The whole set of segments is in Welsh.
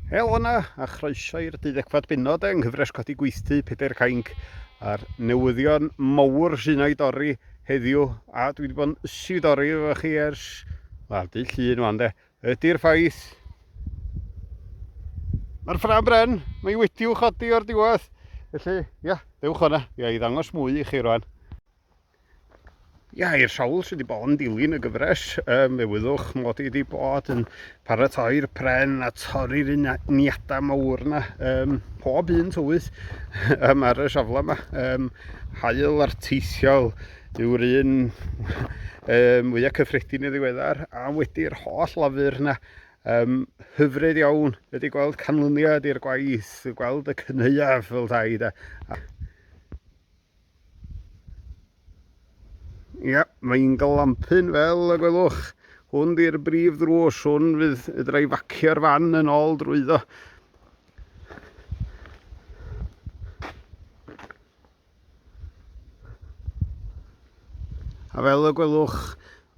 Helo yna a chroeso i'r deuddegfad benod yng nghyfres codi gweithdy Pedair Cainc a'r newyddion mowr sy'n ei dorri heddiw a dwi wedi bod yn ysu i dorri efo chi ers wel dy llun wan de ydy'r ffaith mae'r ffram bren mae wedi'w chodi o'r diwedd felly ia dewch o'na ia i ddangos mwy i chi rwan Ia, i'r sawl sydd wedi bod yn dilyn y gyfres, um, fe wyddwch mod i wedi bod yn paratoi'r pren a torri'r uniadau mawr yna, um, pob un tywydd um, ar y safle yma. Um, hael arteithiol yw'r un um, fwyaf cyffredin i ddiweddar, a wedi'r holl lafur yna, um, hyfryd iawn, wedi gweld canlyniad i'r gwaith, gweld y cynheuaf fel dau, da. Ia, mae'n glampyn fel y gwelwch. Hwn di'r brif ddrws, hwn fydd fedra i facio'r fan yn ôl drwyddo. A fel y gwelwch,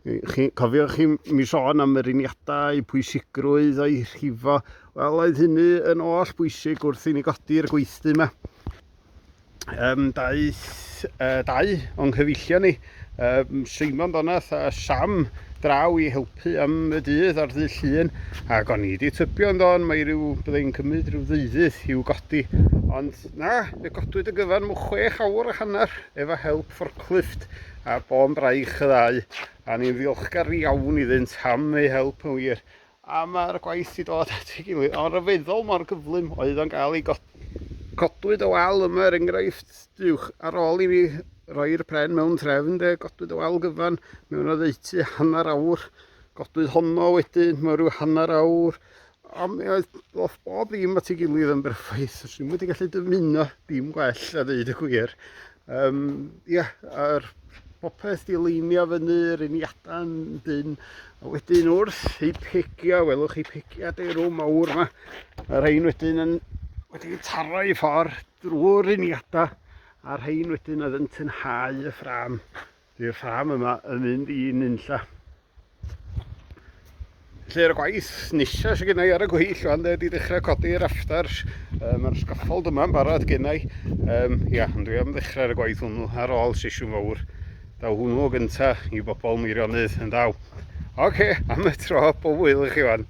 chi, cofiwch chi mi sôn am yr uniadau, eu pwysigrwydd o'i rhifo, wel oedd hynny yn oll bwysig wrth i ni godi'r gweithdy yma. Um, daeth uh, dau o'n nghyfeillion ni, um, Simon Donath a Sam, draw i helpu am y dydd ar ddydd llun, ac o'n i wedi tybio yn don, mae rhyw, byddai'n cymryd rhyw ddeuddydd i'w godi, ond na, fe godwyd y gyfan mw chwech awr a hanner efo help forklift a bo'n braich y ddau, a ni'n ddiolchgar iawn iddynt am eu help yn wir, A mae'r gwaith wedi dod at ei gilydd, ond rhyfeddol mor gyflym oedd o'n cael ei godi. Codwyd y wal yma er enghraifft, duwch, ar ôl i mi roi'r pren mewn trefn de, godwyd y wal gyfan mewn oddeutu hanner awr, godwyd honno wedyn mewn rhyw hanner awr, a mi oedd bob, bob dim at ei gilydd yn berffaith, swn i'n wedi gallu dymuno dim gwell a ddeud y gwir. Um, ia, yr popeth di leinio fyny, yr uniadau yn dyn, a wedyn wrth i pigia, welwch chi pigia derw mawr yma, a rhain wedyn yn wedi taro i ffordd drwy'r uniadau, a rhain wedyn oedd yn tynhau y ffram Dy'r ffarm yma yn mynd i nunlla. Lle'r gwaith nisa sydd gennau ar y gweill fan dde di ddechrau codi yr afters. Um, Mae'r sgaffold yma'n barod gennau. Um, ia, ond dwi am ddechrau ar y gwaith hwnnw ar ôl sesiwn fawr. Daw hwnnw o gyntaf i bobl Meirionydd yn daw. Oce, okay, am y tro, pob wyl i chi fan.